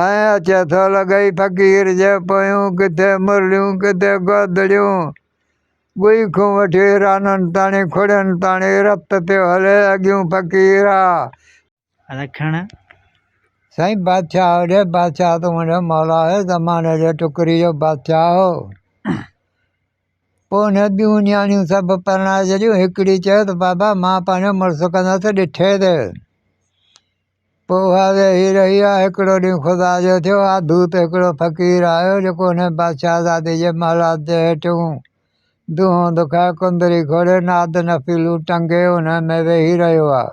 ائين اچي ٿو لڳئي فقير جي پويون ڪٿي مرليون ڪٿي گودڙيون ڳوئي کون وٺي رانن تاڻي کڙين تاڻي رت تي هلي اڳيون فقير آ رکڻ سائين بادشاهه هوڏي بادشاهه تون هوڏي مولا هي زماني جي ٽڪري جو بادشاهه هو پوء هن ٻيون نياڻيون سڀ پرڻائي ڇڏيون هڪڙي چيو ته بابا مان پنهنجو مڙس ڪندس ڏٺي تي پوء واضح هي رهي ها. هڪڙو ڏينهن خدا جو ٿيو ها، دوت هڪڙو فقير آيو، جيڪو هن بادشاهزادي جي محلات جي هيٺيون دونهون دکائي، ڪندري کوڙي، ناد نفيلون ٽنگي، انهن ۾ ويهي رهيو ها.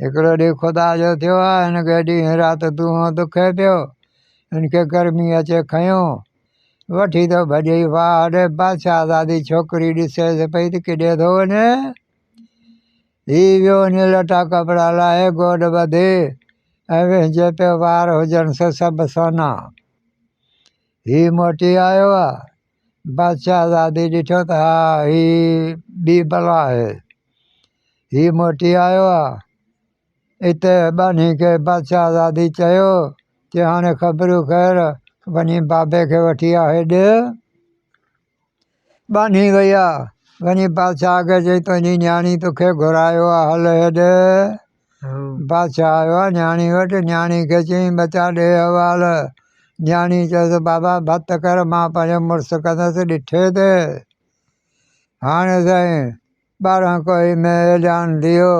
هڪڙو ڏينهن خدا جو ٿيو ها، هن کي ڏينهن رات دونهون دکي پيو. هن کي گرمي اچي کنيو. وٺي ٿو ڀڄي، واهه ڙي! بادشاهزادي ڇوڪري ڏسيس پئي ته ڪيڏي ٿو وڃي؟ هي ويو وڃي لٽا ڪپڙا لاهي گوڏ ٻڌي ۽ ويهجي پيو وار هجن سو سڀ سونا. هي موٽي آيو آ. بس شهزادي ڏٺو ته ها هي ٻي بلا آهي. هي موٽي آيو آ. اتي ٻانهي کي بس شهزادي چيو چي هاڻي خبرون خير وڃي بابي کي وٺي آ هيڏ. ٻانهي ويا، وڃي بادشاهه آگهه چئي، تنهنجي نياڻي توکي گهرايو آ، هل هيڏ. بادشاهه آيو آ نياڻي وٽ، نياڻي کي چيائين، ٻچا ڏي احوال. نياڻي چيس، بابا ڀت ڪر، مان پنهنجو مڙس ڪندس، ڏٺي ته هاڻي سائين ٻارهن ڪوهي ۾ ايليان ڌيئو،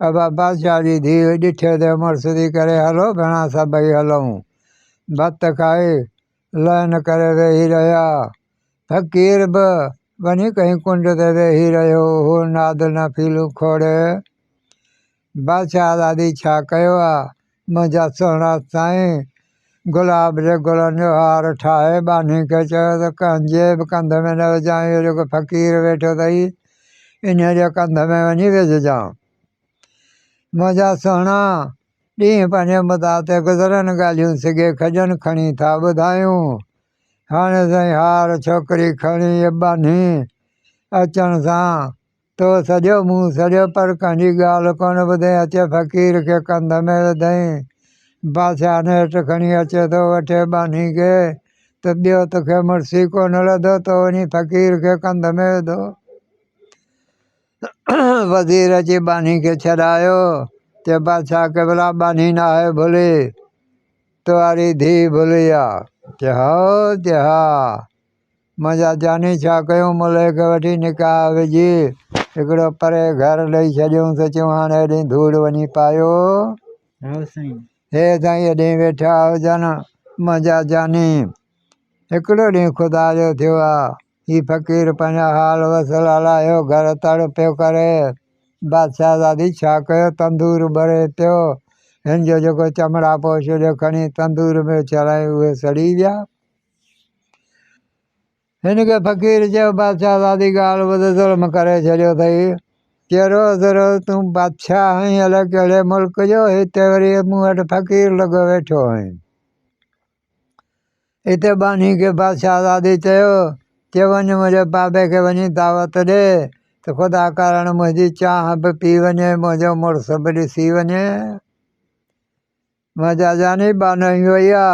ابا بادشاهه جي ڌيء، ڏٺي ته مڙس ٿي ڪري، هلو ڀيڻا سڀئي هلون. ڀت کائي. لئن ڪري ويهي رهيا. فقير به وڃي ڪنهن ڪنڊ تي ويهي رهيو هو. نادر نه ڦيلون کوڙي، بادشاهه دادي ڇا ڪيو آ، منهنجا سهڻا سائين! گلاب جي گلن جو هار ٺاهي ٻانهي کي چيو ته ڪنهن جي به ڪنڌ ۾ نه وجهانء، اهو جيڪو فقير ويٺو اٿئي، انهيء جي ڪنڌ ۾ وڃي وجهجانء. منهنجا سهڻا! ڏينهن پنهنجي مداح تي گذرن ڳالهيون سگهي کجن کڻي ٿا ٻڌايون هاڻي سائين هار ڇوڪري کڻي ٻانهي اچڻ سان تو سڏيو مون سڏيو پر ڪنهنجي ڳالهه ڪونه ٻڌين اچي فقير کي ڪنڌ ۾ وڌئين بادشاهه نيٺ کڻي اچي ٿو وٺي ٻانهي کي ته ٻيو توکي مڙس ئي ڪونه لڌو تو وڃي فقير کي ڪنڌ ۾ وڌو وزير اچي ٻانهي کي ڇڏايو، چيو، بادشاهه قبلا! ٻانهي ناهي ڀلي، تنهاري ڌيء ڀلي آ. چيو، هائو! چيو، ها! منهنجا جاني ڇا ڪيون، ملهي کي وٺي نڪاح وجهي هڪڙو پري گهر ڏئي ڇڏيونس، چيون هاڻي هيڏي ڌوڙ وڃي پايو. هي سائين هيڏي ويٺا هجن منهنجا جاني! هڪڙو ڏينهن خدا جو ٿيو آ. هي فقير پنهنجا حال وصل الاهيو گهر تڙ پيو ڪري بادشاهه زادي ڇا ڪيو تندور ٻري پيو هن جو جيڪو چمڙا پوش هليو کڻي تندور ۾ اڇلايائين اهي سڙي ويا هن کي فقير چيو بادشاهه زادي ڳالهه ٻڌ ظلم ڪري ڇڏيو اٿئي چي روز روز تون بادشاهه آهين الائي ڪهڙي ملڪ جو هتي وري مون وٽ فقير لڳو ويٺو آهين اتي ٻانهي کي بادشاهه آزادي چيو تي وڃ منهنجي بابي کي وڃي دعوت ڏي ته خدا ڪارڻ منهنجي چانهه به پي وڃي منهنجو مڙس به ڏسي وڃي مان جاجاني ٻانهي وئي آ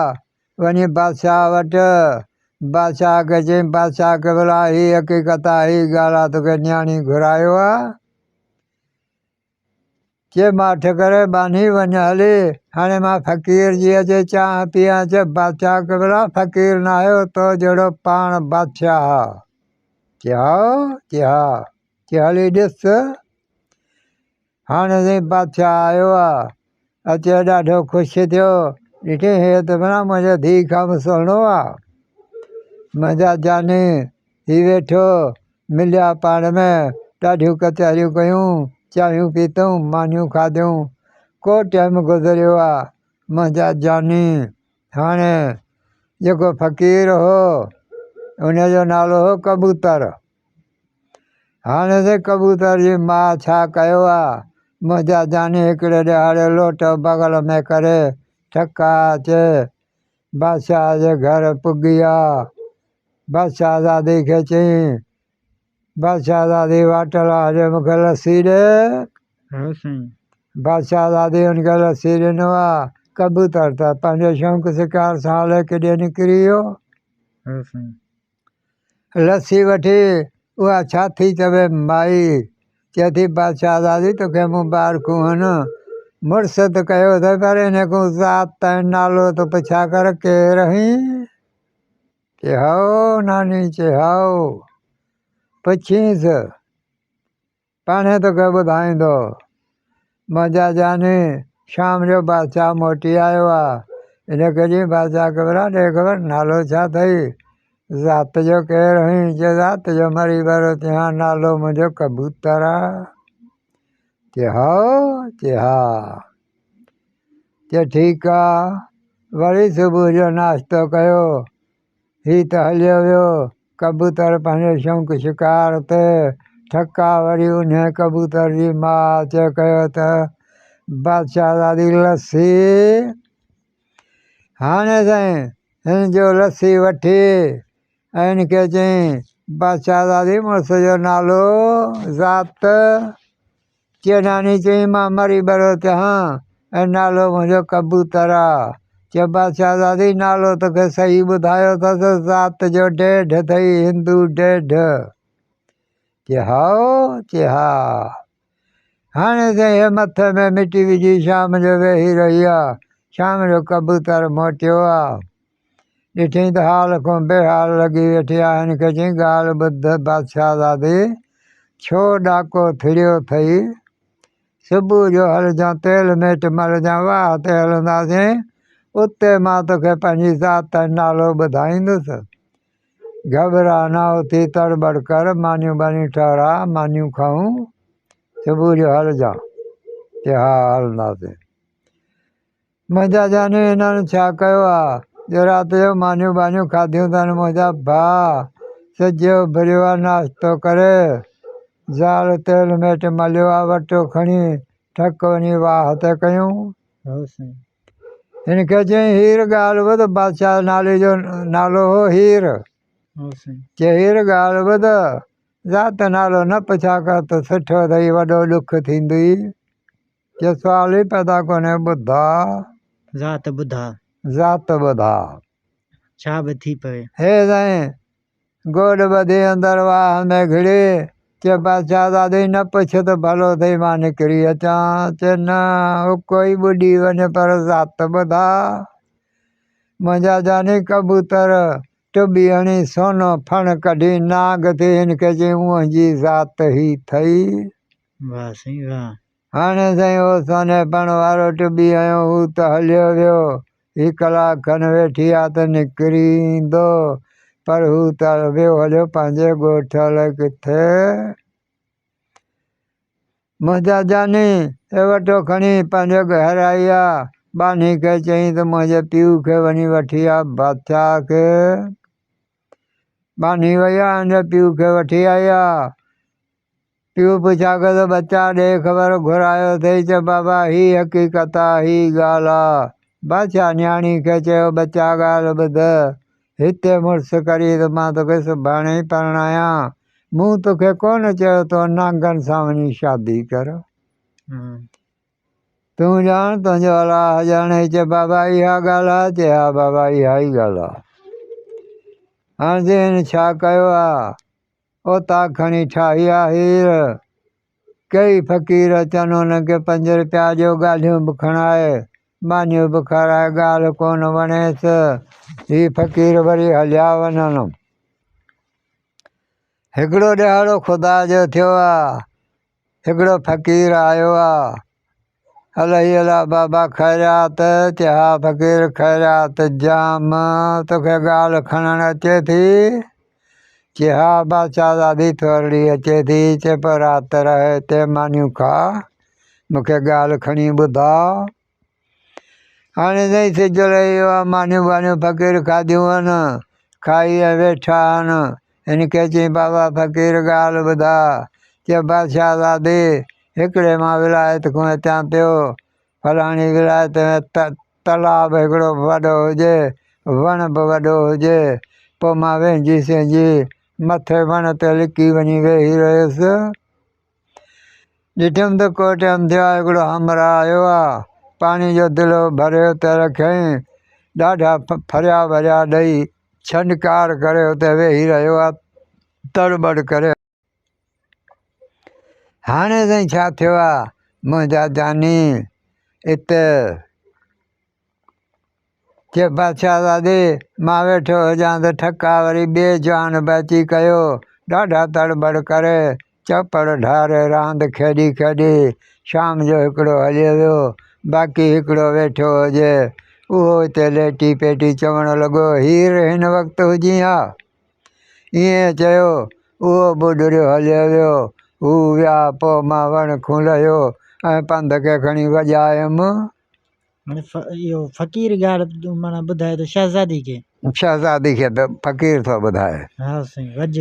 وڃي بادشاهه وٽ بادشاهه کي چي بادشاهه کي بلا هي حقيقت آ هي ڳالهه آ توکي نياڻي گهرايو آ چي مان ٺڪر ٻانهي وڃ هلي، هاڻي مان فقير جي اچي چانهه پيان، چي بادشاهه قبلا فقير ناهي هو تو جهڙو پاڻ بادشاهه آ، چي هاء، چي ها، چي هلي ڏس هاڻي سائين بادشاهه آيو آ، اچيو ڏاڍو خوش ٿيو ڏٺي هي ته ڀلا منهنجي ڌيء کان به سهڻو آ منهنجا جاني هي ويٺو مليا پاڻ ۾ ڏاڍيون ڪچهريون ڪيون چانهيون پيتون مانيون کاڌيون ڪو ٽيم گذريو آ منهنجا جاني هاڻي جيڪو فقير هو ان جو نالو هو ڪبوتر هاڻي ته ڪبوتر جي ماء ڇا ڪيو ها، منهنجا جاني هڪڙي ڏهاڙي لوٽ بغل ۾ ڪري ٺڪا اچي بادشاهه جي گهر پڳي ها. بادشاهزادي کي چيائين، بادشاهزادي واٽ لاء هجي مون کي لسي ڏي. هو سائين. بادشاهزادي هن کي لسي ڏنو ها. ڪبوتر ته پنهنجي شونق شڪار سان هلي ڪيڏي نڪري ويو. هو سائين. لسي وٺي اها ڇا ٿي چوي مائي، چئي ٿي بادشاهزادي توکي مون ٻار ڪونهن. مڙس ته ڪيو اٿئي پر انهي ڪون ذات تائين نالو ته پڇا ڪر ڪير هين؟ چئي هائو ناني، چئي هائو. پڇينس. پاڻهي توکي ٻڌائيندو. منهنجا جاني، شام جو بادشاهه موٽي آيو آ. ان ڪڏهن بادشاهه ڪبرا ڏي خبر نالو ڇا ٿئي؟ ذات تنهنجو ڪير هئين؟ چيو ذات تنهنجو مري ڀرو ٿيان آ، نالو منهنجو ڪبوتر آ. چيو هائو؟ چيو ها. چيو ٺيڪ آ. وري صبح جو ناشتو ڪيو. هي ته هليو ويو. ڪبوتر پنهنجي شونق شڪار تي ٺڪا وري انهي ڪبوتر جي ماء چئي ڪيو ته، بادشاهزادي لسي هاڻي سائين هن جو لسي وٺي ۽ هن کي چئين، بادشاهزادي مڙس جو نالو ذات؟ چيئناني چيائين، مان مري ٻرو چهان ۽ نالو منهنجو ڪبوتر آ. چيو، بادشاهزادي! نالو توکي صحيح ٻڌايو اٿس، ذات جو ڊيڍ اٿئي، هندو ڊيڍ. چي هائو؟ چي ها. هاڻي سائين هيء مٿي ۾ مٽي وجهي شام جو ويهي رهي آ. شام جو ڪبوتر موٽيو آ. ڏٺئين ته حال کان بي حال لڳي ويٺي آهي، هن کي چيائين، ڳالهه ٻڌ بادشاهه زادي، ڇو ڏاڪو ٿڙيو ٿئي؟ صبح جو هلجان، تيل ميٽ ملجان، واهه تي هلنداسين، اتي مان توکي پنهنجي ذات ۽ نالو ٻڌائيندس. گهٻراء نه، اٿي تڙ ٻڙ ڪر، مانيون ٻانيون ٺهراء، مانيون کائون، صبح جو هلجان. چي، ها هلنداسين. منهنجا جاني هنن ڇا ڪيو آ جو رات جو مانيون ٻانيون کاڌيون تن منهنجا ڀاء سجيو اڀريو آ ناشتو ڪري زال تيل ميٽ مليو آ وٽو کڻي ٺڪ وڃي واهه تي ڪيون هن کي چيائين هير ڳالهه ٻڌ بادشاهه نالي جو نالو هو هير چي هير ڳالهه ٻڌ ذات نالو نه پڇا ڪر ته سٺو اٿئي وڏو ڏک ٿيندئي ڪي سوال ئي پيدا ڪونهي ٻڌا. ذات ٻڌا. ذات ٻڌا. ڇا به ٿي پوي. هي سائين! گوڏ ٻڌي اندر واهه ۾ گهڙي، چي بادشاهزادي نه پڇ ته ڀلو ٿئي مان نڪري اچان، چي نه اڪو ئي ٻڏي وڃ پر ذات ٻڌا. منهنجا جاني ڪبوتر ٽٻي هڻي سونو ڦڻ ڪڍي نانگ ٿي هن کي چيائين اونهنجي ذات هي ٿئي. واه سائين واه. هاڻي سائين او سونهي پڻ وارو ٽٻي هنيو هو ته هليو ويو. هي ڪلاڪ کن ويٺي ها ته نڪري ايندو. پر هو ته ويو هليو پنهنجي ڳوٺ الائي ڪٿي. منهنجا جاني ايوٽو کڻي پنهنجي گهر آئي ها. ٻانهي کي چيائين ته منهنجي پيء کي وڃي وٺي آ بادشاهه کي. ٻانهي وئي ها ۽ پيء کي وٺي آئي ها. پيو پڇاڪس ٻچا ڏي خبر گهرايو ٿئي چه بابا هي حقيقت آ هي ڳالهه آ بادشاهه نياڻي کي چيو ٻچا ڳالهه ٻڌ هتي مڙس ڪري ته مان توکي سڀاڻي ئي پرڻايان مون توکي ڪونه چيو تو نانگن سان وڃي شادي ڪر تون ڄاڻ تنهنجو الاهه ڄاڻي هي چه بابا اها ڳالهه آ چي ها بابا اها ئي ڳالهه آ هاڻ جي هن ڇا ڪيو آ اوطاق کڻي ٺاهي آ هير. ڪيئي فقير اچن هن کي پنج رپيا ڏيو ڳالهيون به کڻائي مانيون به کارائي ڳالهه ڪونه وڻيس هي فقير وري هليا وڃن. هڪڙو ڏهاڙو خدا جو ٿيو آ هڪڙو فقير آيو آ. الهي الا بابا خيريات چي ها فقير خيريات جام توکي ڳالهه کڻڻ اچي ٿي چي ها بادشاهزادي ٿورڙي اچي ٿي چي پوء رات رهه هتي مانيون کا مونکي ڳالهه کڻي ٻڌاء هاڻي تائين سج رهيو آ، مانيون ٻانيون فقير کاڌيون هن، کائي ۽ ويٺا هن. هن کي چيائين، بابا فقير ڳالهه ٻڌاء، چئه بادشاهه زادي، هڪڙي مان ولايت کان اچان پيو، فلاڻي ولايت ۾ تلاء به هڪڙو وڏو هجي، وڻ به وڏو هجي، پوء مان وينجهي سينجهي مٿي وڻ تي لڪي وڃي ويهي رهيس. ڏٺم ته ڪوٽ امديا هڪڙو همراهه آيو آ، پاڻي جو دلو ڀريو ته رکيائين، ڏاڍا ڦريا وريا ڏئي، ڇنڊڪار ڪري اتي ويهي رهيو آ، تڙ ٻڙ ڪري. هاڻي سائين ڇا ٿيو آ منهنجا جاني؟ ات. چي بادشاهه زادي، مان ويٺو هجان ته ٺڪ آ، وري ٻئي جوان به اچي ڪيو. ڏاڍا تڙ ٻڙ ڪري، چئوپڙ ڍاري راند کيڏي کيڏي شام جو هڪڙو هليو ويو، باقي هڪڙو ويٺو هجي. اهو اتي ليٽي پيٽي چوڻ لڳو، هير هن وقت هجين ها. ائين چيو، اهو به ڏريو هليو ويو. هو ويا، پوء مان وڻ کون لهيو ۽ پنڌ کي کڻي وڄايم. فقير ڳالهه معنيٰ ٻڌائي ٿو شهزادي کي شهزادي کي ته فقير ٿو ٻڌائي ها سائين وڄ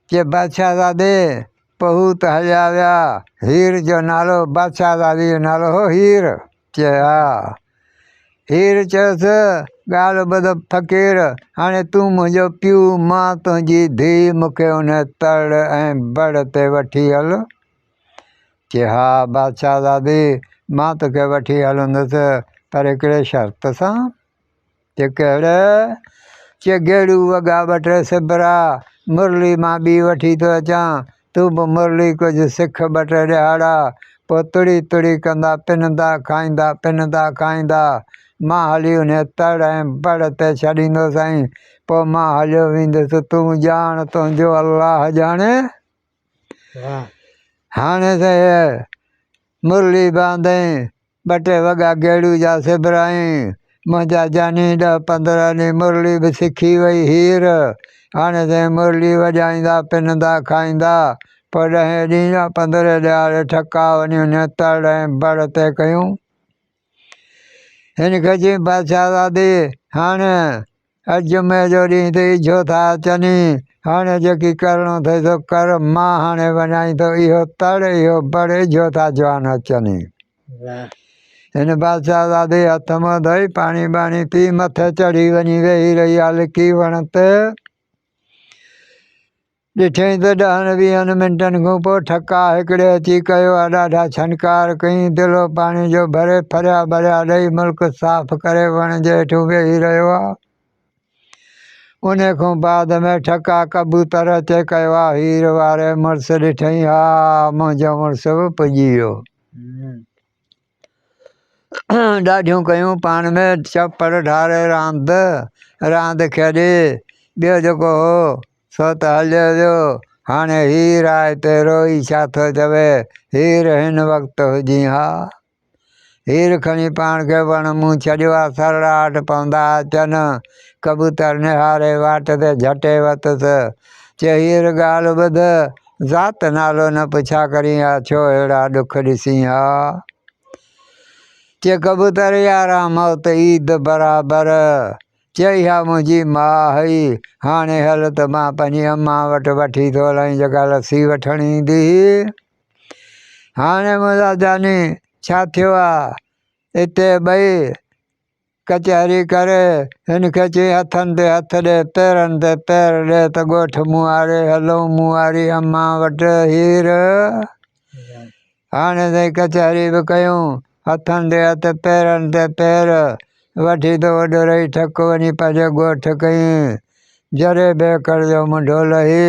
چي بادشاهه زادي پهو ته هليا ويا هير جو نالو بادشاهه زادي جو نالو هو هير چي ها هير چيس ڳالهه ٻڌ فقير هاڻي تون منهنجو پيو مان تنهنجي ڌي مون کي ان تڙ ۽ بڙ تي وٺي هل چي ها بادشاهزادي مان توکي وٺي هلندس پر هڪڙي شرط سان. چي ڪهڙي؟ چي گيڙو وڳا ٻه ٽي سبرا مرلي مان ٻي وٺي ٿو اچان تون به مرلي ڪجهه سک ٻه ٽي ڏهاڙا پوء تڙي تڙي ڪندا پندا کائيندا پندا کائيندا مان هلي انهي تڙ ۽ بڙ تي ڇڏيندوسانء پوء مان هليو ويندس تون ڄاڻ تنهنجو الله ڄاڻي. هاڻي ته مرلي باندين، ٻه ٽي وڳا گيڙو جا سبرايين، منهنجا جاني ڏهه پندرهن ڏينهن مرلي به سکي وئي هير، هاڻي ته مرلي وڄائيندا پنندا کائيندا، پوء ڏهين ڏينهن يا پندرهين ڏهاڙي ٺڪاء وڃون نهتڙ ۽ بڙ تي ڪيون. هن کجين بادشاهزادي، هاڻ اڄ جمعي جو ڏينهن ٿي، ايڇو ٿا اچني، هاڻ جيڪي ڪرڻو ٿئي سو ڪر، مان هاڻي وڃائين ٿو، اهو تڙ، اهو بڙ، ايڇو ٿا جوان اچني. هن بادشاهزادي هٿ منهن ڌوئي، پاڻي ٻاڻي پي، مٿي چڙهي وڃي ويهي رهي آ لڪي وڻ تي. ڏٺئين ته ڏهن ويهن منٽن کان پوء ٺڪا هڪڙي اچي ڪيو ها، ڏاڍا ڇنڪار ڪيائين، دلو پاڻي جو ڀري ڦريا ڀريا ڏئي ملڪ صاف ڪري وڻ جي هيٺون ويهي رهيو ها. انهي کان بعد ۾ ٺڪا ڪبوتر اچي ڪيو ها، هير واري مڙس ڏٺئين ها، منهنجو مڙس به پڄي ويو. ڏاڍيون ڪيون پاڻ ۾ چپڙ ڍار راند راند کيڏي ٻيو جيڪو هو سو ته هليو ويو هاڻي هير آء پيو روئي ڇا ٿو چوي هير هن وقت هجي ها هير کڻي پاڻ کي وڻ مون ڇڏيو آ سرڙا هٽ پوندا اچن ڪبوتر نهاري واٽ تي جهٽي وتس چي هير ڳالهه ٻڌ ذات نالو نه پڇا ڪرين آ، ڇو اهڙا ڏک ڏسين آ. چئي ڪبوتر ياران موت عيد برابر، چئي ها منهنجي ماء هئي، هاڻي هل ته مان پنهنجي امان وٽ وٺي ٿو هلان جيڪا لسي وٺڻ ايندي هئي. هاڻي منهنجا جاني ڇا ٿيو آ، اتي ٻئي ڪچهري ڪر، هن کي چئي هٿن تي هٿ ڏي، پيرن تي پير ڏي ته ڳوٺ موهاري هلون موهاري امان وٽ. هير، هاڻي تائين ڪچهري به ڪيون، هٿن تي هٿ پيرن تي پير وٺي ته اوڏورهي ٺڪ وڃي پنهنجي ڳوٺ ڪئين. جري بيڪر جو منڍو لهي،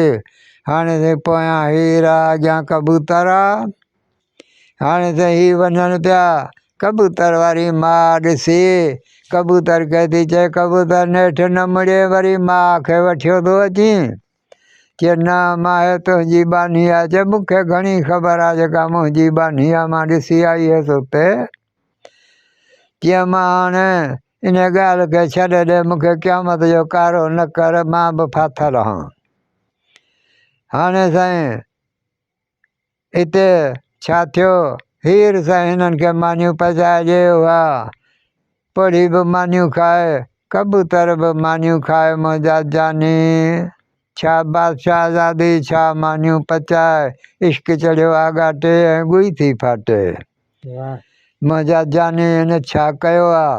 هاڻي تائين پويان هير آ اڳيان ڪبوتر آ. هاڻي ته هي وڃن پيا ڪبوتر واري ماء ڏسي. ڪبوتر کي ٿي چئي، ڪبوتر نيٺ نه مڙي وري ماء کي وٺيو ٿو اچين. چئي نه ماهي تنهنجي ٻانهي آ. چئي مون کي گهڻي خبر آ جيڪا منهنجي ٻانهي آ مان ڏسي آئي هيس اتي. چئي مان هاڻي ان ڳالهه کي ڇڏي ڏي مون کي قيامت جو ڪارو نه ڪر مان به ڦاٿل هان. هاڻي سائين هتي ڇا ٿيو؟ هير سان هنن کي مانيون پچائي ڏي هئا. پوڙهي به مانيون کائي، ڪبوتر به مانيون کائي منهنجا جاني! ڇا بادشاهه آزادي، ڇا مانيون پچائي، عشق چڙهيو آڳاٽي ۽ ڳوئي ٿي ڦاٽي. منهنجا جاني هن ڇا ڪيو آ.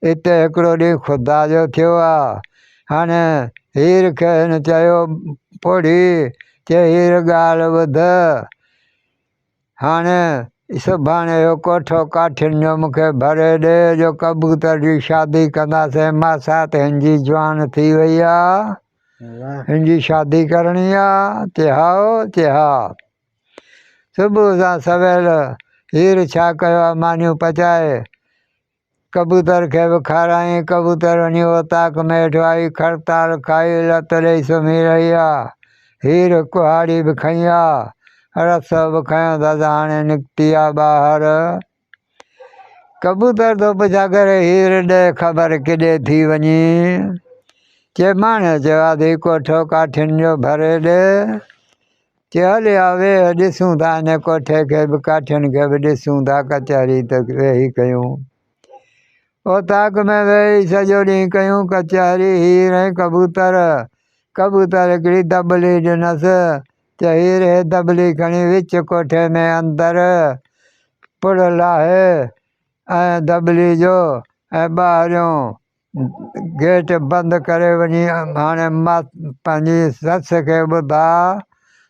اتي هڪڙو ڏينهن خدا جو ٿيو آ. هن هير کي هن چيو، پوڙهي چي هير ڳالهه ٻڌ. هاڻي سڀاڻي اهو ڪوٺو ڪاٺين جو مون کي ڀري ڏي جو ڪبوتر جي شادي ڪنداسين. ماسات هن جي جوان ٿي وئي آ. هن جي شادي ڪرڻي آ. چي هائو. چي ها. صبح سان سويل هير ڇا ڪيو آ مانيون پچائي ڪبوتر کي به کارائين ڪبوتر وڃي اوطاق ۾ هيٺ آئي کڙتال کائي لت ڏئي سمهي رهي آ هير ڪهاڙي به کنئي آ رسو به کنيو ته هاڻي نڪتي آ ٻاهر. ڪبوتر ڌپ ڇا ڪري هير ڏي خبر ڪيڏي ٿي وڃي چي ماڻي چي آڌي ڪوٺو ڪاٺين جو ڀري ڏي چي هل يا ويهه ڏسون ٿا ان ڪوٺي کي به ڪاٺين کي به ڏسون ٿا ڪچهري ته ويهي ڪيون اوطاق ۾ ويهي سڄو ڏينهن ڪيون ڪچهري هير ۽ ڪبوتر ڪبوتر هڪڙي دٻلي ڏنس چئي رهي دٻلي کڻي وچ ڪوٺي ۾ اندر پڙ لاهي ۽ دٻلي جو ۽ ٻاهريون گيٽ بند ڪري وڃي هاڻي ماس پنهنجي سس کي ٻڌاء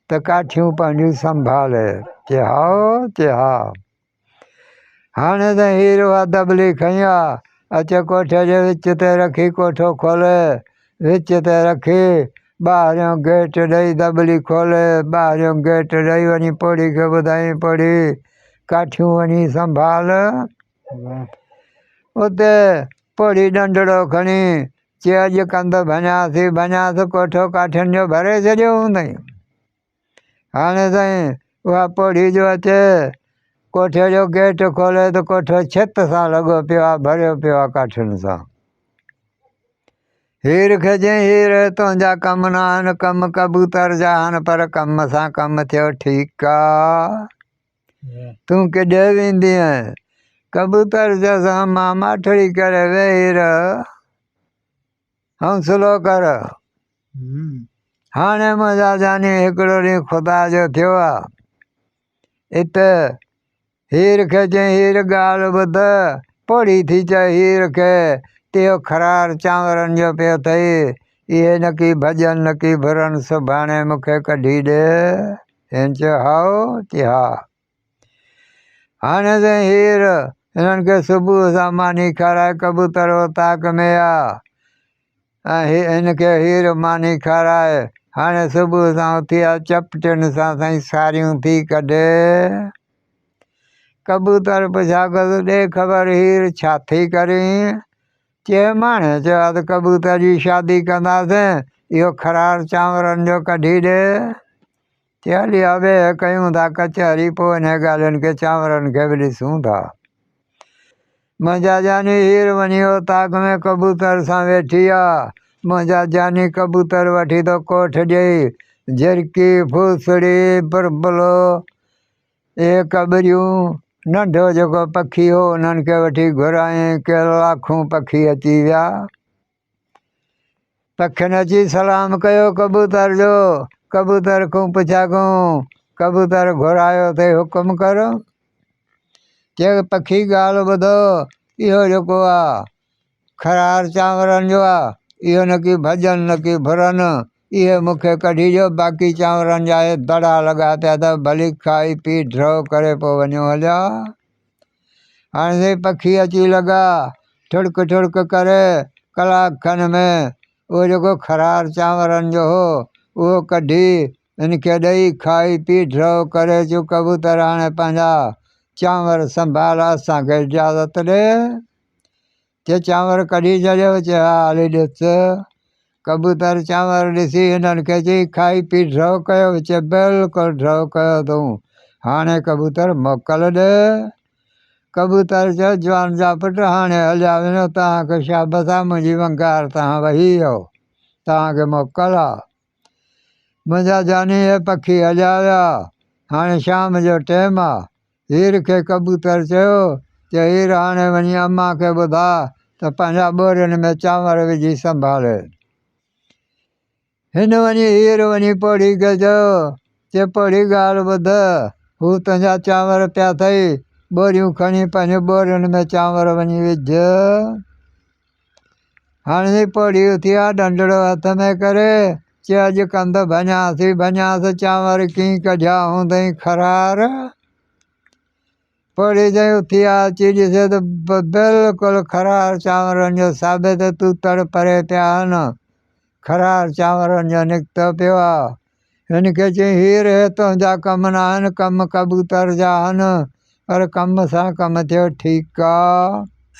ته ڪاٺيون پنهنجون سنڀالي چي هائو چي ها. هاڻ ته هير اها دٻلي کنئي آ، اچي ڪوٺي جي وچ تي رکي، ڪوٺو کولي وچ تي رکي، ٻاهريون گيٽ ڏئي، دٻلي کولي، ٻاهريون گيٽ ڏئي، وڃي پوڙهي کي ٻڌائين، پوڙهي، ڪاٺيون وڃي سنڀال. اتي پوڙهي ڏنڊڙو کڻي، چي اڄ ڪنڌ ڀڃان ٿي، ڀڃان ٿي، ڪوٺو ڪاٺين جو ڀري ڇڏيو هوندئين. هاڻي سائين اها پوڙهي جو اچي ڪوٺي جو گيٽ کولي ته ڪوٺو ڇت سان لڳو پيو آهي ڀريو پيو آهي ڪاٺين سان هير کي جي هير تنهنجا ڪم نه آهن ڪم ڪبوتر جا آهن پر ڪم سان ڪم ٿيو ٺيڪ آهي تون ڪيڏي ويندي آهي ڪبوتر جا سان مان ماٺڙي ڪري ويهي رهه حوصلو ڪر، هاڻي منهنجا جاني هڪڙو ڏينهن خدا جو ٿيو آ. ات هير کي چيائين، هير ڳالهه ٻڌ، پوڙهي ٿي چئه هير کي ته اهو خرار چانورن جو پيو ٿئي، اهي نڪي ڀڄن نڪي ڀرن، سڀاڻي مون کي ڪڍي ڏي. هن چيو هائو، چي ها. هاڻي ته هير، هنن کي صبح سان ماني کارائي ڪبوتر اوطاق ۾ آ. هن کي هير ماني کارائي، هاڻي صبح سان اٿي آ چپٽين سان سائين ساريون ٿي ڪڍي. ڪبوتر پڇاڪس، ڏي خبر هير ڇا ٿي ڪرين؟ چي ماڻهي چيو آ ته ڪبوتر جي شادي ڪنداسين، اهو خرار چانورن جو ڪڍي ڏي. تي هلي آ ويهه ڪيون ٿا ڪچهري پوء انهي ڳالهين کي چانورن کي به ڏسون ٿا منهنجا جاني هير وڃي اوطاق ۾ ڪبوتر سان ويٺي آ منهنجا جاني ڪبوتر وٺي ٿو ڪوٺ ڏئي جهرڪي ڦوسڙي پرپلو اهي ڪٻريون ننڍو جيڪو پکي هو انهن کي وٺي گهرايائين ڪي لاکون پکي اچي ويا پکين اچي سلام ڪيو ڪبوتر جو، ڪبوتر کون پڇا گون، ڪبوتر گهرايو تي حڪم ڪر. چيو ته پکي ڳالهه ٻڌو، اهو جيڪو آ خرار چانورن جو آ، اهو نڪي ڀڄن نڪي ڀرن، اهي مون کي ڪڍي ڏيو، باقي چانورن جا اهي دڙا لڳا پيا اٿئو، ڀلي کائي پي ڍرو ڪري پوء وڃو هليا. هاڻي سائين پکي اچي لڳا ٺڙڪ ٺڙڪ ڪري ڪلاڪ کن ۾ اهو جيڪو خرار چانورن جو هو اهو ڪڍي هن کي ڏئي کائي پي ڍرو ڪري چون ڪبوتر هاڻي پنهنجا چانور سنڀال اسان کي اجازت ڏي. چي چانور ڪڍي ڇڏيو، چي ها علي ڏس ڪبوتر چانور ڏسي هنن کي چي کائي پي ڍرو ڪيو، چي بلڪل ڍرو ڪيو اٿئون، هاڻي ڪبوتر موڪل ڏي. ڪبوتر چيو جوان جا پٽ هاڻي هليا وڃو توهان کي شابس آ منهنجي ونگار تان وهي ويو توهان کي موڪل آ. منهنجا جاني اي پکي اجايا، هاڻي شام جو ٽيم آ. هير کي ڪبوتر چيو ته هير هاڻي وڃي اما کي ٻڌاء ته پنهنجا ٻورين ۾ چانور وجهي سنڀالين. هن وڃي هير وڃي پوڙهي کي چيو ته پوڙهي ڳالهه ٻڌ، هو تنهنجا چانور پيا اٿئي، ٻوريون کڻي پنهنجي ٻورين ۾ چانور وڃي وجهه. هڻي پوڙهيون ٿيا ڏنڍڙو هٿ ۾ ڪري، چي اڄ ڪنڌ ڀڃان ٿي ڀڃانس چانور ڪيئي ڪڍيا هوندئين خرار. پوڙهي چيائين اٿي آ اچي ڏسي ته بلڪل خرار چانورن جو ثابت توتڙ پري پيا آهن خرار چانورن جو نڪتو پيو آ. هن کي چيائين، هي رهي تنهنجا ڪم ناهن، ڪم ڪبوتر جا آهن، پر ڪم سان ڪم ٿيو، ٺيڪ آ.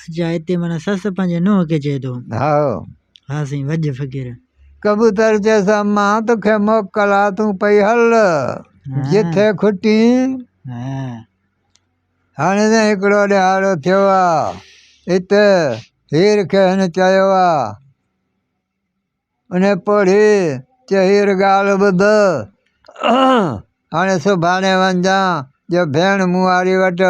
اچا هتي معنيٰ سس پنهنجي نونهن کي چئي ٿو. هائو. ها سائين وجهه فقير. ڪبوتر چيس امان توکي موڪل آ تون پئي هل جتي کٽين. هائو. هاڻي سائين هڪڙو ڏهاڙو ٿيو آ. اتي هير کي هن چيو آ. ان پوڙهي چيو هير ڳالهه ٻڌ، هاڻي سڀاڻي وڃجان جو ڀيڻ مونهاري وٽ،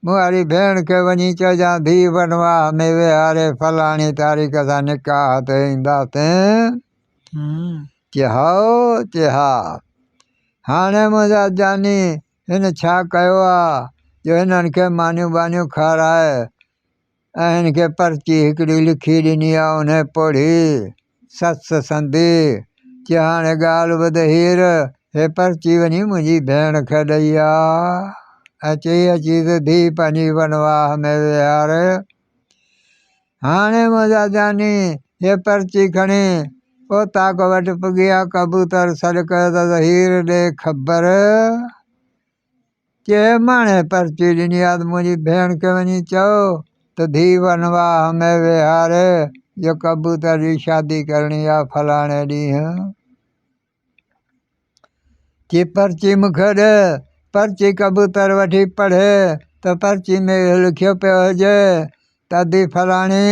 مونهاري ڀيڻ کي وڃي چئجان ڌيء بنواهه ۾ ويهاري فلاڻي تاريخ سان نڪاح تي اينداسين. چي هائو، چي ها. هاڻي منهنجا جاني هن ڇا ڪيو آ جو هنن کي مانيون ٻانيون کارائي هن کي پرچي هڪڙي لکي ڏني آ، انهي پڙهي سس سندي چي هاڻي ڳالهه ٻڌ هير، هي پرچي وڃي منهنجي ڀيڻ کي ڏئي آ ۽ چئي اچي ته ڌيء پنهنجي ونواهه ۾ ويهار. هاڻي منهنجا جاني هي پرچي کڻي اوطاق وٽ پڳيا، ڪبوتر سڏ ڪيو ته هير ڏي خبر. چي ماڻهي پرچي ڏني آ ته منهنجي ڀيڻ کي وڃي چئو ته ڌيء ونواهه ۾ ويهاري جو ڪبوتر جي شادي ڪرڻي آ فلاڻي ڏينهن. چي پرچي مون کي ڏي. پرچي ڪبوتر وٺي پڙهي ته پرچي ۾ اهو لکيو پيو هجي ته ادي فلاڻي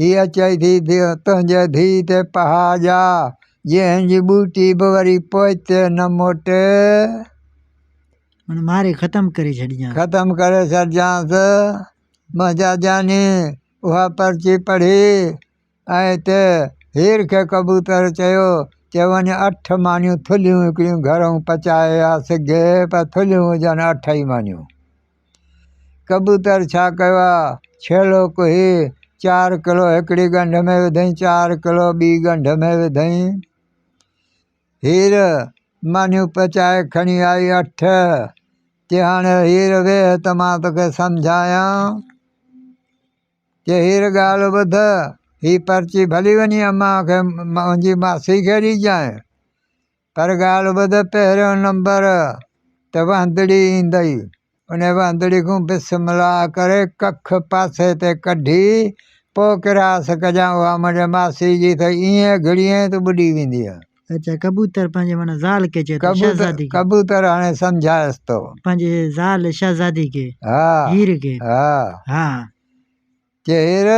هيء چئي ٿي ته تنهنجي ڌيء تي پها جا، جنهن جي ٻوٽي به وري پوئتي نه موٽي. هن ماري ختم ڪري ڇڏجانس. ختم ڪري ڇڏجانس. منهنجا جاني اها پرچي پڙهي ۽ اتي هير کي ڪبوتر چيو ته وڃ اٺ مانيون ٿلهيون هڪڙيون گهرئون پچائي آ سگهي پر ٿلهيون هجن اٺ ئي مانيون. ڪبوتر ڇا ڪيو آ؟ ڇيلو ڪهي، چار ڪلو هڪڙي ڳنڍ ۾ وڌئين، چار ڪلو ٻي ڳنڍ ۾ وڌئين. هير مانيون پچائي کڻي آئي اٺ، چي هاڻي هير ويهه ته مان توکي سمجهايان. چي هير ڳالهه ٻڌ، هي پرچي ڀلي وڃي امان کي منهنجي ماسي کي ڏيجانء. پر ڳالهه ٻڌ پهريون نمبر ته وهندڙي ايندئي ان وهندڙي کون بسملا ڪري ڪک پاسي تي ڪڍي پو ڪراس ڪجان اها منهنجي ماسي جي ته ايئن گهڙيئين ته ٻڏي وينديء. اچا ڪبوتر پنهنجي معنيٰ زال کي چئي ٿو شهزادي کي. ڪبوتر هاڻي سمجهايس ٿو. پنهنجي زال شهزادي کي. ها. هير کي. ها. ها. چهر،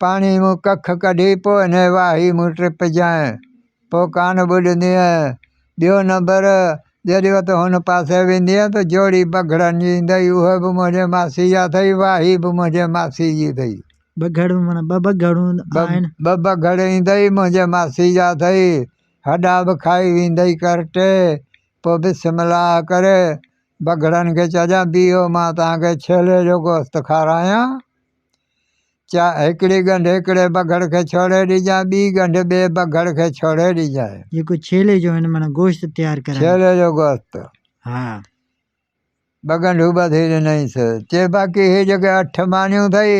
پاڻي مون ڪک ڪڍي پوء هن واهي مون ٽپ جانء پوء ڪانه ٻڏندينء. ٻيو نمبر، جڏهن وت هن پاسي ويندينء ته جوڙي بگهڙن جي ايندئي، اهي به منهنجي ماسي جا اٿئي، واهي به منهنجي ماسي جي اٿئي. بگهڙون معنيٰ ٻه بگهڙون آهن. ٻه بگهڙ ايندئي، منهنجي ماسي جا اٿئي، هڏا به کائي ويندئي ڪرٽي، پوء بسم الله ڪري بگهڙن کي چئجان بيهو مان توهان کي ڇيلي جو گوشت کارايان. چا هڪڙي ڳنڍ هڪڙي بگهڙ کي ڇوڙي ڏجان ٻي ڳنڍ ٻئي بگهڙ کي ڇوڙي ڏجانء. جيڪو ڇيلي جو هن معنيٰ گوشت تيار ڪرايان. ڇيلي جو گوشت. ها. ٻه ڳنڍون ٻڌي ڏنئيس. چي باقي هي جيڪي اٺ مانيون اٿئي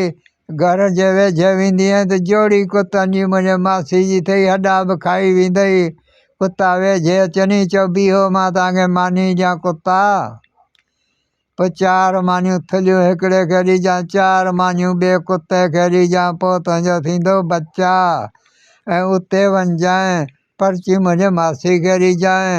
گهر جي ويجهه ويندينء ته جوڙي ڪتن جي منهنجي ماسي جي ٿئي هڏا به کائي ويندئي. ڪتا ويجهه اچني چئو بيهو مان توهان کي ماني ڏيان ڪتا. پوء چار مانيون ٿلهيون هڪڙي کي ڏجان چار مانيون ٻئي ڪتي کي ڏجان پوء تنهنجو ٿيندو بچا ۽ اتي وڃجانء پرچي منهنجي ماسي کي ڏجانء.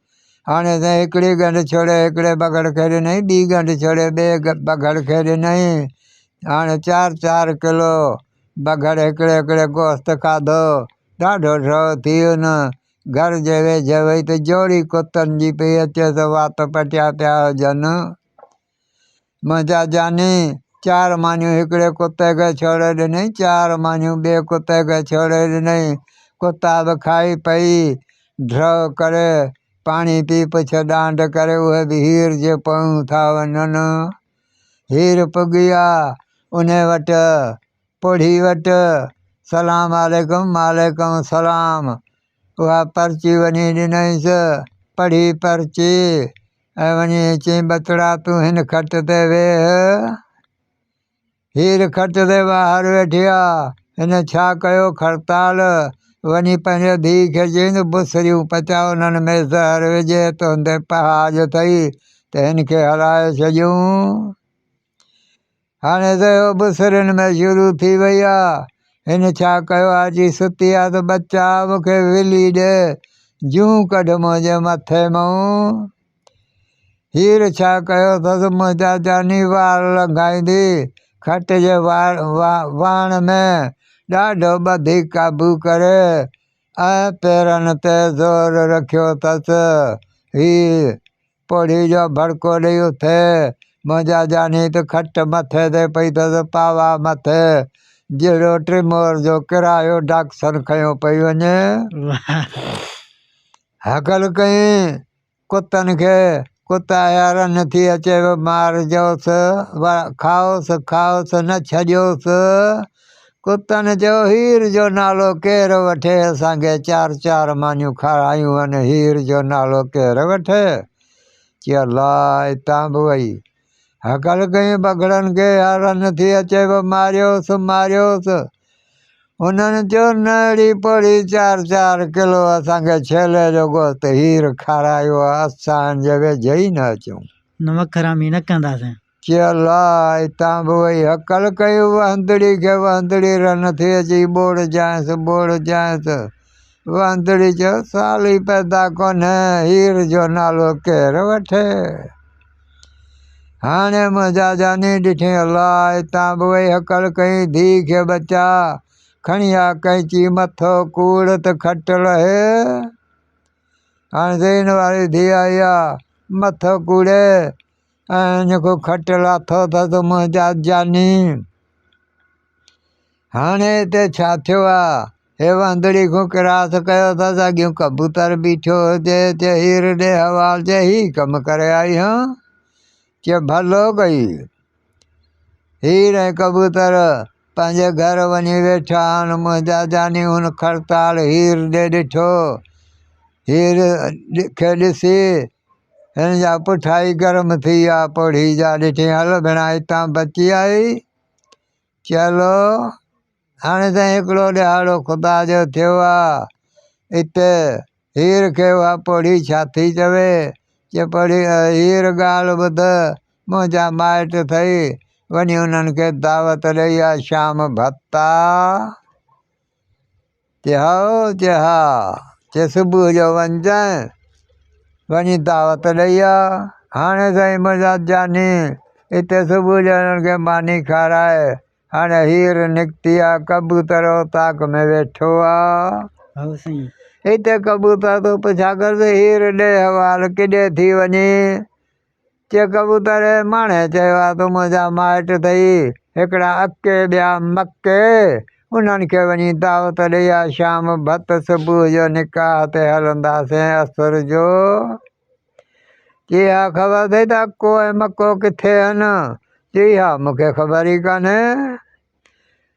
هاڻي سائين هڪڙي ڳنڍ ڇڙي هڪڙي ٻگهڙ کي ڏنائين ٻي ڳنڍ ڇڙي ٻئي ٻگهڙ کي ڏنائين هاڻي چار چار ڪلو ٻگهڙ هڪڙي هڪڙي گوشت کاڌو ڏاڍو ڊو ٿي ان گهر جي ويجهي وئي ته جوڙي ڪتن جي پئي اچي سو وات پٽيا پيا هجن منهنجا جاني! چار مانيون هڪڙي ڪتي کي ڇوڙي ڏنائين، چار مانيون ٻئي ڪتي کي ڇوڙي ڏنائين. ڪتا به کائي پئي ڍرء ڪري پاڻي پي پڇ ڏانڍ ڪري اهي به هير جي پويون ٿا وڃن. هير پڳي آ انهي وٽ، پوڙهي وٽ، سلام عليڪم، وعليڪم السلام. اها پرچي وڃي ڏنائينس، پڙهي پرچي. وڃي چين ٻچڙا تون هن کٽ تي ويهه، هير کٽ تي ٻاهر ويٺي آ، هن ڇا ڪيو کڙتال، وڃي پنهنجي ڌيء کي چين ته بسريون پچاء انهن ۾ زهر وجهي تنهنجي پهاج اٿئي ته هن کي هلائي ڇڏيون. هاڻي ته اهو به سرن ۾ شروع ٿي وئي آ. هن ڇا ڪيو آ جي ستي آ ته ٻچا مون کي ولي ڏي، جون ڪڍ منهنجي مٿي مئون. هير ڇا ڪيو اٿس منهنجا جاني وار لنگهائيندي کٽ جي واڻ ۾ ڏاڍو ٻڌي قابو ڪري ۽ پيرن تي زور رکيو اٿس. هي پوڙهي جو ڀڙڪو ڏئي اٿ، منهنجا جاني ته کٽ مٿي تي پئي اٿس پاوا مٿ، جهڙو ٽرمور جو ڪرايو ڊاڪسن کنيو پئي وڃي. هڪل ڪئين ڪتن کي، ڪتا اهيا رن ٿي اچي به مار جوس، کائوس کائوس نه ڇڏيوس. ڪتن چيو، هير جو نالو ڪير وٺي؟ اسان کي چار چار مانيون کارايون هن هير جو نالو ڪير وٺي؟ چي الله اتان به وئي هڪل ڪيون بگهڙن کي يار نه ٿي اچي به ماريوس ماريوس انهن چيو نه اڙي پوڙهي چار چار ڪلو اسان کي ڇيلي جو گوشت هير کارايو اسان جي ويجهي ئي نه اچون. نمڪ حرامي نه ڪنداسين. چي الله! اتان به وئي هڪل ڪيو وهندڙي کي وهندڙي رح نٿي اچي ٻوڙ جانئس ٻوڙ جانئس وهندڙي جو سال ئي پيدا ڪونهي هير جو نالو ڪير وٺي هاڻي منهنجا جاني ڏٺين الله! اتان به وئي هڪل ڪئين ڌيء کي ٻچا کڻي آ ڪئنچي مٿو ڪوڙ ته کٽ لهي هاڻي زين واري ڌيء آئي آ مٿو ڪوڙي ۽ جيڪو کٽ لاٿو اٿس تو منهنجا جاني هاڻي هتي ڇا ٿيو آ هي واندڙي کان ڪراس ڪيو اٿس اڳيون ڪبوتر بيٺو هجي چي هير ڏي حوال چي هي ڪم ڪري آئي هان چي ڀلو ڪئي هير ۽ ڪبوتر پنهنجي گهر وڃي ويٺا آهن منهنجا جاني هن کڙتال هير ڏي ڏٺو هير کي ڏسي هن جا پٺائي گرم ٿي ويا پوڙهي جا ڏٺيئي هل ڀيڻا هتان بچي آئي چلو هاڻي ته هڪڙو ڏهاڙو خدا جو ٿيو آهي اتي هير کي اها پوڙهي ڇا ٿي چوي چي پوڙهي هير ڳالهه ٻڌ منهنجا مائٽ ٿئي وڃي انهن کي دعوت ڏئي آ شام ڀتا چيو تھ ھا تھ صبح جو وڃجانء، وڃي دعوت ڏئي آء. ھاڻي سائين منھنجا جاني، اتي صبح جو ھنن کي ماني کاراء. ھاڻي ھير نڪتي آ، ڪبوتر اوطاق ۾ ويٺو آ. اتي ڪبوتر تون پڇا ڪرس، ھير ڏي حوال ڪيڏي ٿي وڃي؟ چي ڪبوتر ماڻهي چيو آ تو منهنجا مائٽ ٿئي هڪڙا اڪي ٻيا مڪي انهن کي وڃي دعوت ڏئي آ شام ڀت صبح جو نڪاح تي هلنداسين اسر جو چي اها خبر ٿئي ته اڪو ۽ مڪو ڪٿي هن چي اها مونکي خبر ئي ڪانهي.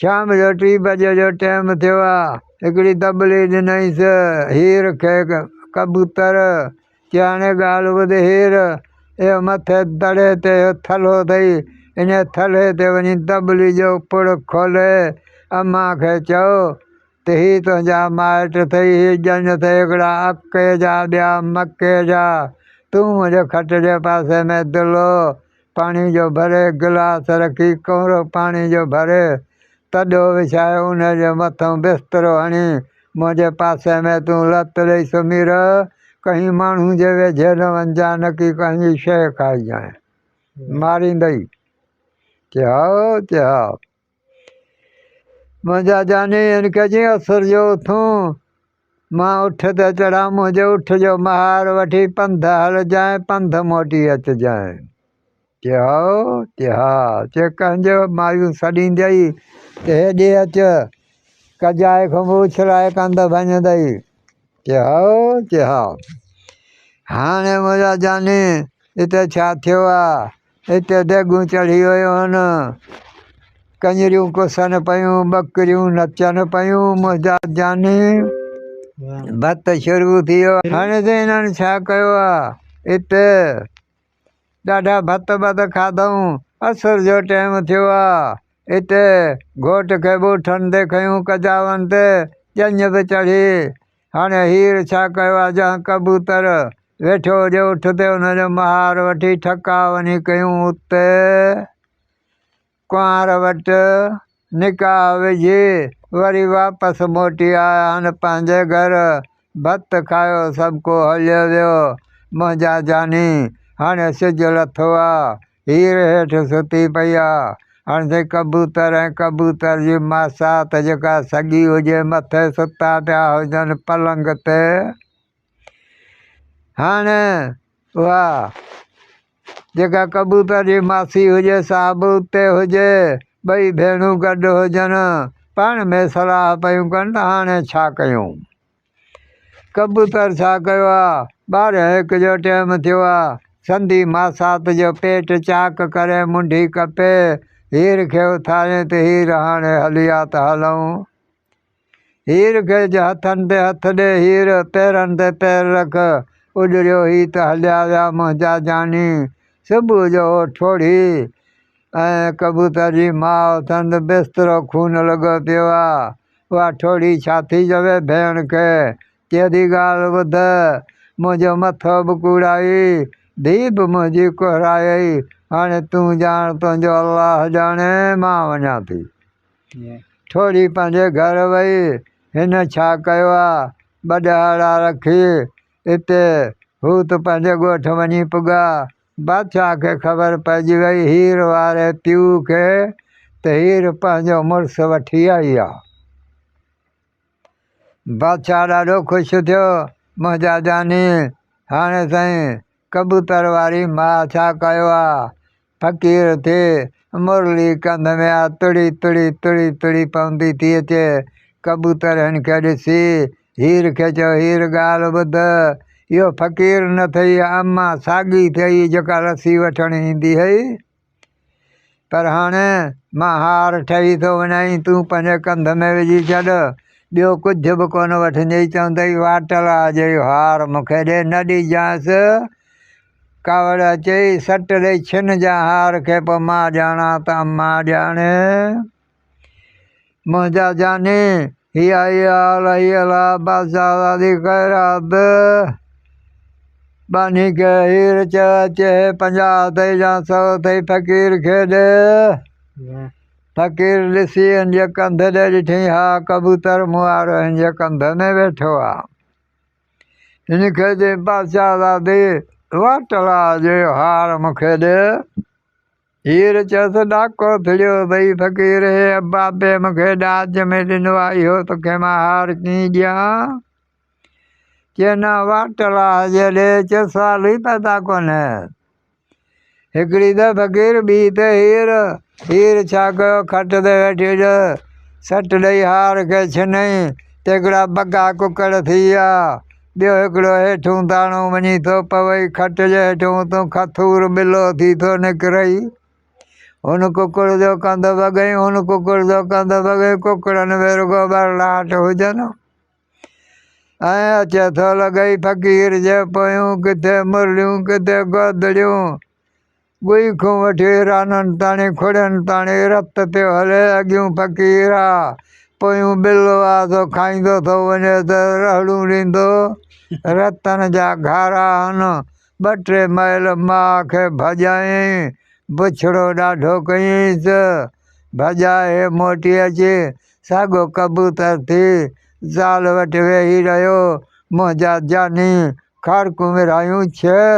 شام جو ٽي بجي جو ٽيم ٿيو آ. هڪڙي طبلي ڏنائينس. هير کي ڪبوتر چي هاڻي ڳالهه ٻڌ هير، اهو مٿي دڙي تي اهو ٿلهو اٿئي، انهي ٿلهي تي وڃي طبلي جو پڙ کولي امان کي چئو ته هي تنهنجا مائٽ اٿئي، هي ڄڃ اٿئي هڪڙا اڪي جا ٻيا مڪي جا، تون منهنجي کٽ جي پاسي ۾ دلو پاڻي جو ڀري گلاس رکي ڪؤرو پاڻي جو ڀري تڏو وڇائي ان جي مٿئون بسترو هڻي منهنجي پاسي ۾ تون لت ڏئي سمهي رهه ڪنهن ماڻهو جي ويجهي نه وڃجانء نه ڪي ڪنهن جي شيء کائجانء ماريندئي چي هائو چي هائو. منهنجا جاني ان ڪجين اثر جو اٿون، مان اٺ تي چڙهان، منهنجي اٺ جو مهار وٺي پنڌ هلجانء، پنڌ موٽي اچجانء. چي هائو، چي ها، چي ڪنهن جو مايون سڏيندئي، چي هيڏي اچ، ڪجائي کان به اڇلائي ڪنڌ ڀڃندئي. چي هائو، چي ها، هاڻي منهنجا جاني هتي ڇا ٿيو آ؟ هتي ديڳون چڙهي ويون هن، ڪڃريون ڪسن پيون، ٻڪريون نچن پيون، منهنجا جاني ڀت شروع ٿي ويو. هاڻي ته هنن ڇا ڪيو آ هتي، ڏاڍا ڀت ٻڌ کاڌئون، عصر جو ٽيم ٿيو آ، هتي گهوٽ کي ٻوٺن تي کنيون، ڪجاون تي ڄڃ به چڙهي. هاڻ هير ڇا ڪيو آ جهان ڪبوتر ويٺو هجي اٺ تي ان جو مهار وٺي ٺڪا وڃي ڪيون اتي ڪنوار وٽ نڪاح وجهي وري واپس موٽي آيان پنهنجي گهر ڀت کايو سڀڪو هليو ويو منهنجا جاني هاڻي سج لٿو آ هير هيٺ ستي پئي آ. هاڻ سائين ڪبوتر ۽ ڪبوتر جي ماسات جيڪا سڳي هجي مٿي ستا پيا هجن پلنگ تي. هاڻ اها جيڪا ڪبوتر جي ماسي هجي سا به اتي هجي ٻئي ڀيڻون گڏ هجن پاڻ ۾ صلاح پيون ڪن ته هاڻي ڇا ڪيون. ڪبوتر ڇا ڪيو آ؟ ٻارهن هڪ جو ٽيم ٿيو آ. سندي ماسات جو پيٽ چاڪ ڪرين منڍي ڪپي هير کي اٿارين ته هير هاڻي هلي آ ته هلئون. هير کي چ هٿن تي هٿ ڏي هير، پيرن تي پير رک، اڏريو هي ته هليا ويا منهنجا جاني. صبح جو هو ٺوڙهي ۽ ڪبوتر جي ماء اٿن ته بسترو خون لڳو پيو آ. اها ٺوڙهي ڇا ٿي چوي ڀيڻ کي ڪهڙي ڳالهه ٻڌ منهنجو مٿو به ڪوڙائي ڌي به منهنجي ڪهرائي هاڻي تون ڄاڻ تنهنجو الله ڄاڻي مان وڃان ٿي ٺوڙهي پنهنجي گهر وئي هن ڇا ڪيو آ ٻه ڏهاڙا رکي اتي هوت پنهنجي ڳوٺ وڃي پڳا بادشاهه کي خبر پئجي وئي هير واري پيء کي ته هير پنهنجو مڙس وٺي آئي آ. بادشاهه ڏاڍو خوش ٿيو منهنجا جاني هاڻي سائين ڪبوتر واري ماء ڇا ڪيو آ. فقير ٿي مرلي ڪنڌ ۾ آ تڙي تڙي تڙي تڙي پوندي ٿي اچي ڪبوتر هن کي ڏسي هير کي چيو، هير ڳالهه ٻڌ، اهو فقير نه ٿئي، اما ساڳي ٿئي جيڪا لسي وٺڻ ايندي هئي، پر هاڻي مان هار ٺهي ٿو وڃائين، تون پنهنجي ڪنڌ ۾ وجهي ڇڏ، ٻيو ڪجهه به ڪونه وٺجئي، چوندئي واٽلا جي اهو هار مون کي ڏي، نه ڏيجانس، ڪاوڙ اچئي، سٽ ڏئي ڇن جان هار کي، پوء مان ڄاڻان ته اما ڄاڻي. منهنجا جاني هي آهي الهي الا بادشاهه علي خير عبد باني کي هير چه اچي پنجاهه اٿئي يا سو اٿئي فقير کي ڏي فقير ڏسي هنج ڪنڌ ڏي ڏٺئي ها ڪبوتر مون وارو هنج ڪنڌ ۾ ويٺو آ هن کي جي بادشاهه زادي واٽ لا جو هار مون کي ڏي هير چيس، ڏاڪو ڦڙيو اٿئي فقير! هي ابا پي مون کي ڏاج ۾ ڏنو آهي، اهو توکي مان هار ڪيئن ڏيان؟ چينا واٽ لاهه جي ڏي، چيس سوال ئي پيدا ڪونهي. هڪڙي ته فقير، ٻي ته هير. هير ڇا ڪيو، کٽ تي ويٺي ڏهه سٽ ڏئي هار کي ڇنئي، تيڪڙا بگا ڪڪڙ ٿي ويا. ٻيو هڪڙو هيٺون داڻو وڃي ٿو پوي، کٽ جي هيٺون اتون کٿور ٻلو ٿي ٿو نڪرئي. هن ڪڪڙ جو ڪنڌ ڀڳئي، هن ڪڪڙ جو ڪنڌ ڀڳئي، ڪڪڙن ۾ رڳو ٻرڙاٽ هجن ها. ائين اچي ٿو لڳئي فقير جي پويون، ڪٿي مرليون ڪٿي گودڙيون. ڳوئي کون وٺي رانن تاڻي کڙين تاڻي رت پيو هلي اڳيون فقير آ پويون ٻل آ سو کائيندو ٿو وڃي ته رهڙون ڏيندو رتن جا گهارا هن ٻه ٽي مئل ماء کي ڀڄايائين بڇڙو ڏاڍو ڪيائينس ڀڄائي موٽي اچي ساڳو ڪبوتر ٿي زال وٽ ويهي رهيو منهنجا جاني کارڪون ورهايون ڇهه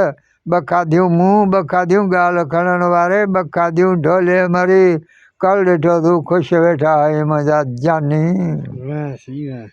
ٻه کاڌيون مون، ٻه کاڌيون ڳالهه کڻڻ واري، ٻه کاڌيون ڍولي مري، ڪل ڏٺو تون خوش ويٺا آهيون منهنجا جاني. وينس، وينس.